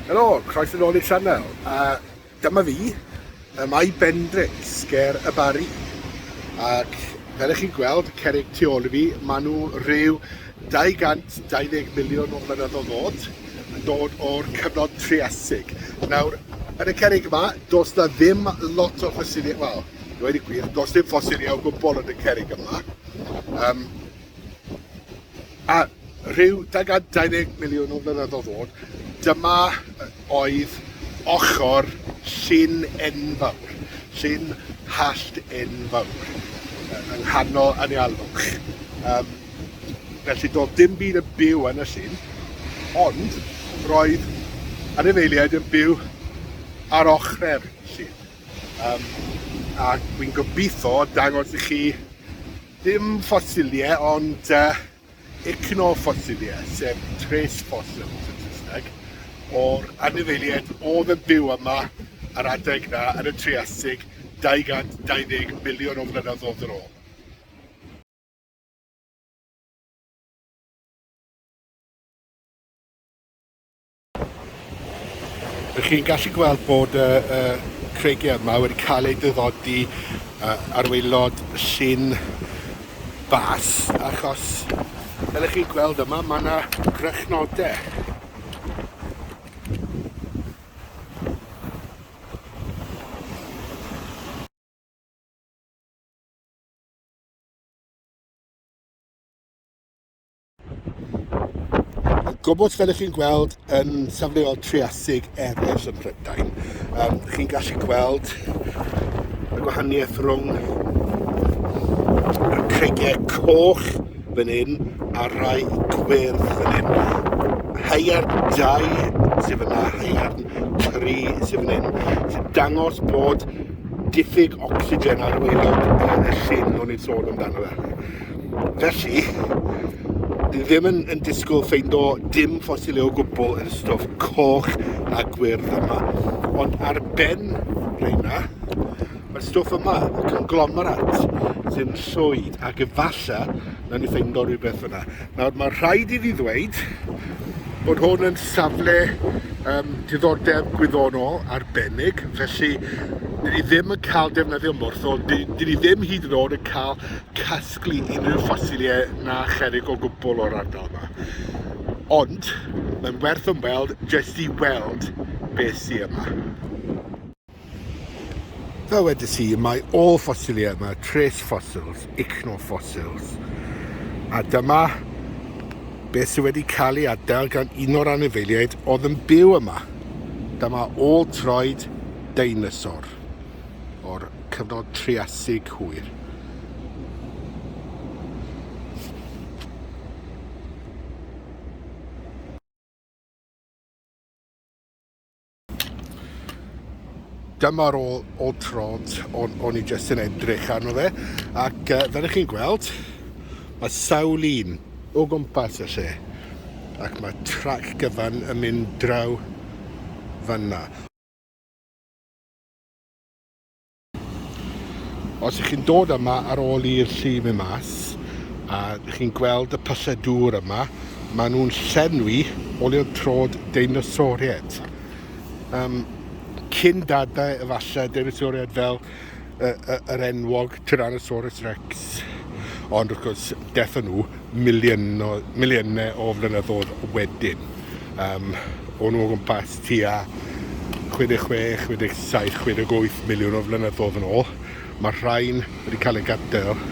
Helo, croeso nôl i'r sianel. A dyma fi, y mae Bendrix ger y Bari. Ac fel ych chi'n gweld, cerig tu ôl i fi, maen nhw rhyw 220 miliwn o flynyddoedd oed, yn dod o'r cyfnod Triasig. Nawr, yn y cerrig yma, does na ddim lot o ffosiliau, wel, i wedi gwir, does dim ffosiliau o gwbl yn y cerrig yma. Um, a rhyw 220 miliwn o flynyddoedd oed, dyma oedd ochr llun enfawr, llun hallt enfawr, yng nghanol anialwch. Um, Felly doedd dim byd yn byw yn y llyn, ond roedd anifeiliaid yn byw ar ochrau'r llyn. Um, a dwi'n gobeithio dangos i chi ddim ffosiliau, ond uh, ecnoffosiliau, sef tres fossils yn Saesneg, o'r anifeiliaid oedd yn byw yma ar adeg na yn y Triasig 220 miliwn o flynyddoedd yn ôl. Ych chi'n gallu gweld bod y, y creigiau yma wedi cael eu dyddodi uh, ar waelod llun bas, achos fel ych chi'n gweld yma, mae yna grychnodau. gwybod fel ych chi'n gweld yn safleol triasig eraill yn Prydain. Um, chi'n gallu gweld y gwahaniaeth rhwng y creigiau coch fan hyn a rhai gwyrdd fan hyn. Haiar 2 sydd fyna, haiar 3 sydd fan hyn, sy'n dangos bod diffyg ocsigen ar waelod y llyn o'n i'n sôn amdano fe. Felly, ni ddim yn, yn disgwyl ffeindo dim ffosilau o gwbl yn y stwff coch a gwyrdd yma. Ond ar ben reina, mae'r stwff yma, y conglomerat, sy'n llwyd, ac efallai na ni ffeindo rhywbeth fyna. Nawr, mae rhaid i fi ddweud bod hwn yn safle um, diddordeb gwyddonol arbennig, felly dyn ni ddim yn cael defnyddio morthol, dyn ni ddim hyd yn oed yn cael casglu unrhyw ffosiliau na cherig o gwbl o'r ardal yma. Ond mae'n werth ymweld jyst i weld beth sydd yma. Fel wedes i, mae ôl ffosiliau yma, trace fossils, ichnofossils. A dyma beth sydd wedi cael ei adael gan un o'r anifeiliaid oedd yn byw yma. Dyma ôl troed deinosor o'r cyfnod triasig hwyr. Dyma'r ôl, ôl trod o'n, on i jyst yn edrych arno fe ac uh, fel ych chi'n gweld mae sawl un o gwmpas y lle ac mae trac gyfan yn mynd draw fanna. Os ych chi'n dod yma ar ôl i'r llu mynd mas a chi'n gweld y pyllau dŵr yma, maen nhw'n llenwi o leodd trod deinosoriaid. Um, cyn dadau efallai deinosoriaid fel yr enwog Tyrannosaurus Rex. Ond wrth gwrs, dethon nhw miliynau o flynyddoedd wedyn. Um, o'n nhw o gwmpas tua 66, 67, 68 miliwn o flynyddoedd yn ôl. Mae'r rhain wedi cael eu gadael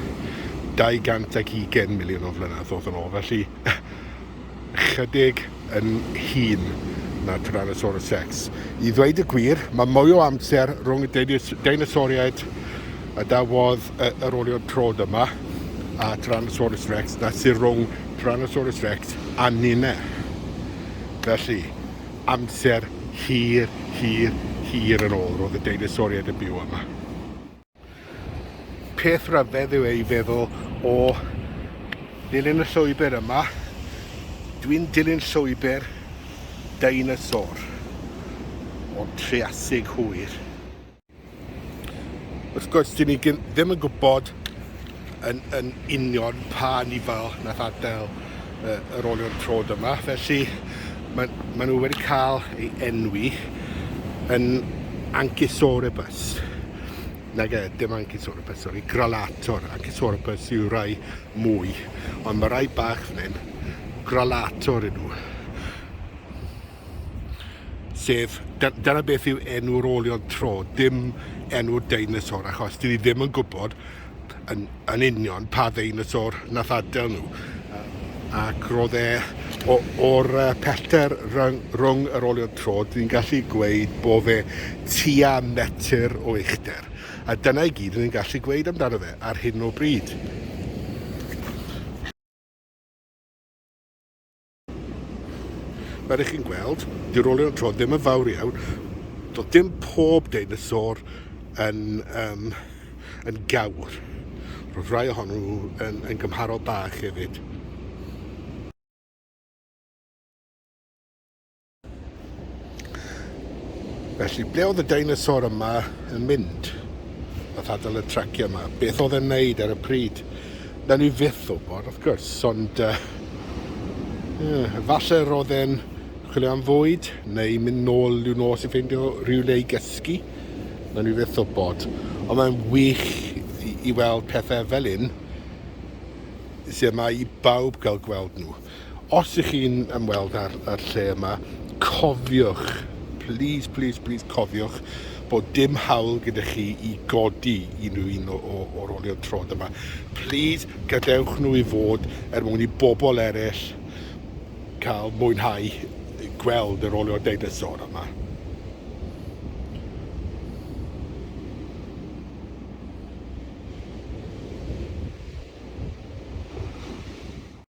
220 miliwn o flynyddoedd yn ôl, felly chydig yn hun na Tyrannosaurus Rex. I ddweud y gwir, mae mwy o amser rhwng y deinosoriaid a dawodd yr olion trod yma a Tyrannosaurus rex, na sy'n rhwng Tyrannosaurus rex a ninne. Felly, amser hir, hir, hir yn ôl, roedd y deinosoriaid yn byw yma. Peth rhyfedd yw ei feddwl o ddilyn y llwybr yma, dwi'n dilyn llwybr deinosor o'r Triasig hwyr. Wrth gwrs, dyn ni ddim yn gwybod yn, yn union pa nifal nath adael uh, yr olion trod yma, felly mae, mae nhw wedi cael ei enwi yn Anchisorebus. Nag e, dim Anchisorebus, sori, Gralator. Anchisorebus yw rai mwy, ond mae rai bach fan hyn, Gralator yn nhw. sef, dyna beth yw enw rolion tro, dim enw deinosor, achos dyn ni ddim yn gwybod yn, yn union pa ddeinosor nath adael nhw. Ac roedd e, o'r pellter rhwng, rhwng yr olion tro, dyn ni'n gallu gweud bod fe tua metr o uchder. A dyna i gyd ni'n gallu gweud amdano fe ar hyn o bryd. Fel ych chi'n gweld, di rolio'r tro ddim yn fawr iawn. Doedd dim pob deinosor yn, um, yn gawr. Roedd rhai ohonyn nhw yn, yn gymharol bach hefyd. Felly, ble oedd y deinosor yma yn mynd? Nath adael y traciau yma. Beth oedd e'n neud ar y pryd? Na ni fyth o bod, wrth gwrs, ond... Uh, yeah, falle roedd e'n chwilio am fwyd, neu mynd nôl i'w nos i ffeindio rhywle i gysgu. Na ni fyth o bod. Ond mae'n wych i, i weld pethau fel un sydd yma i bawb gael gweld nhw. Os ych chi'n ymweld â'r â'r lle yma, cofiwch, plîs, plîs, plîs cofiwch bod dim hawl gyda chi i godi unrhyw un o o o'r olion trod yma. Plîs, gadewch nhw i fod er mwyn i bobl eraill cael mwynhau gweld yr olion deinosor yma.